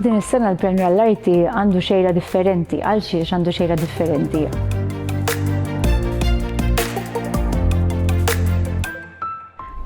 Din is-sena l-Premju għall-Arti għandu xejra differenti, għal xiex għandu xejra differenti.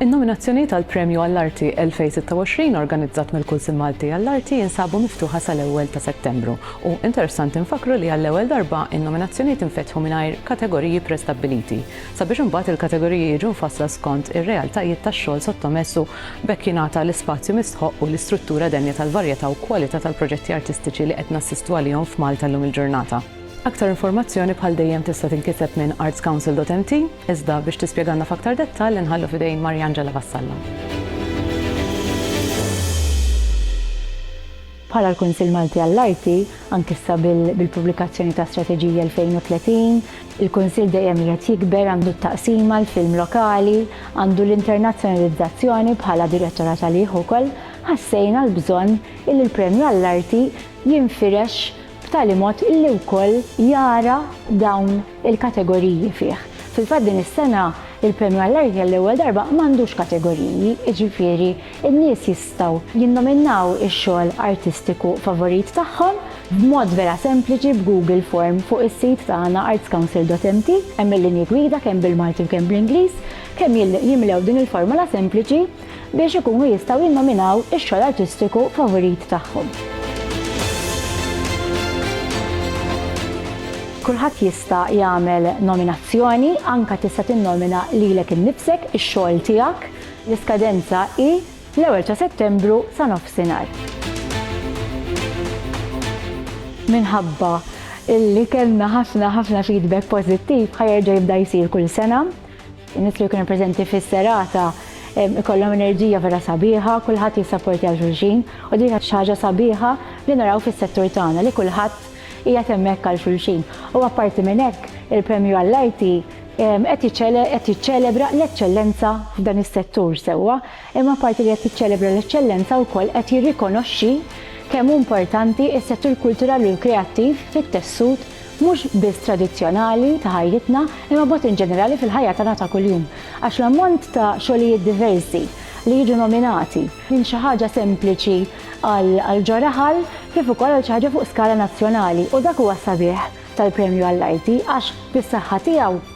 In-nominazzjonijiet għall premju għall-Arti 2026 organizzat mill-Kunsil Malti għall-Arti jinsabu miftuħa sal-ewwel ta' Settembru u interessanti nfakru li għall-ewwel darba in-nominazzjonijiet infetħu mingħajr kategoriji prestabbiliti sabiex imbagħad il-kategoriji jiġu mfassla skont ir-realtajiet tax-xogħol sottomess u b'hekk jingħata l-ispazju mistħoqq u l-istruttura denja tal-varjetà u kwalità tal-proġetti artistiċi li qed nassistu għalihom f'Malta llum il-ġurnata. Aktar informazzjoni bħal dejjem tista' tinkiseb minn artscouncil.mt, iżda biex tispjegalna f'aktar dettall inħallu f'idejn Mariangela Vassallo. Bħala l-Kunsill Malti għall-Arti, anki issa bil-pubblikazzjoni ta' Strateġija 2030, il-Kunsill dejjem qiegħed jikber, għandu t-Taqsima, l-Film Lokali, għandu l-Internazzjonalizzazzjoni bħala Direttorat għalih ukoll, ħassejna l-bżonn illi l-Premju għall-Arti jinfirex b'tali mod illi wkoll jara dawn il-kategoriji fih. Fil-fatt din is-sena il-Premju għall-Arti għall-ewwel darba m'għandux kategoriji, jiġifieri n-nies jistgħu jinnominaw ix-xogħol artistiku favorit tagħhom b'mod vera sempliċi b'Google Form fuq is-sit tagħna artscouncil.mt hemm il-linji gwida kemm bil-Malti u kemm bl-Ingliż kemm jimlew din il-formola sempliċi biex ikunu jistgħu jinnominaw ix-xogħol artistiku favurit tagħhom. Kulħadd jista' jagħmel nominazzjoni, anke tista' tinnomina lilek innifsek, ix-xogħol tiegħek. L-iskadenza hi l-ewwel ta' Settembru sa nofsinhar. Minħabba li kellna ħafna ħafna feedback pożittiv, ħa jerġa' jibda jsir kull sena. In-nies li jkunu preżenti fis-serata ikollhom enerġija vera sabiħa, kulħadd jissapportja 'l xulxin u din hija xi ħaġa sabiħa li naraw fis-settur tagħna li kulħadd qiegħed hemmhekk għal xulxin. U apparti minn hekk, il-Premju għall-Arti qed qed jiċċelebra l-eċċellenza f'dan is-settur sewwa, imma apparti li qed jiċċelebra l-eċċellenza wkoll qed jirrikonoxxi kemm hu importanti s-settur kulturali u kreattiv fit-tessut mhux biss tradizzjonali ta' ħajjitna imma b'mod inġenerali fil-ħajja tagħna ta' kuljum, għax l-ammont ta' xogħlijiet diversi li jiġu nominati, minn xi ħaġa sempliċi għal ġo raħal kif ukoll għal xi ħaġa fuq skala nazzjonali, u dak huwa s-sabiħ tal-Premju għall-Arti għax bis-saħħa tiegħu,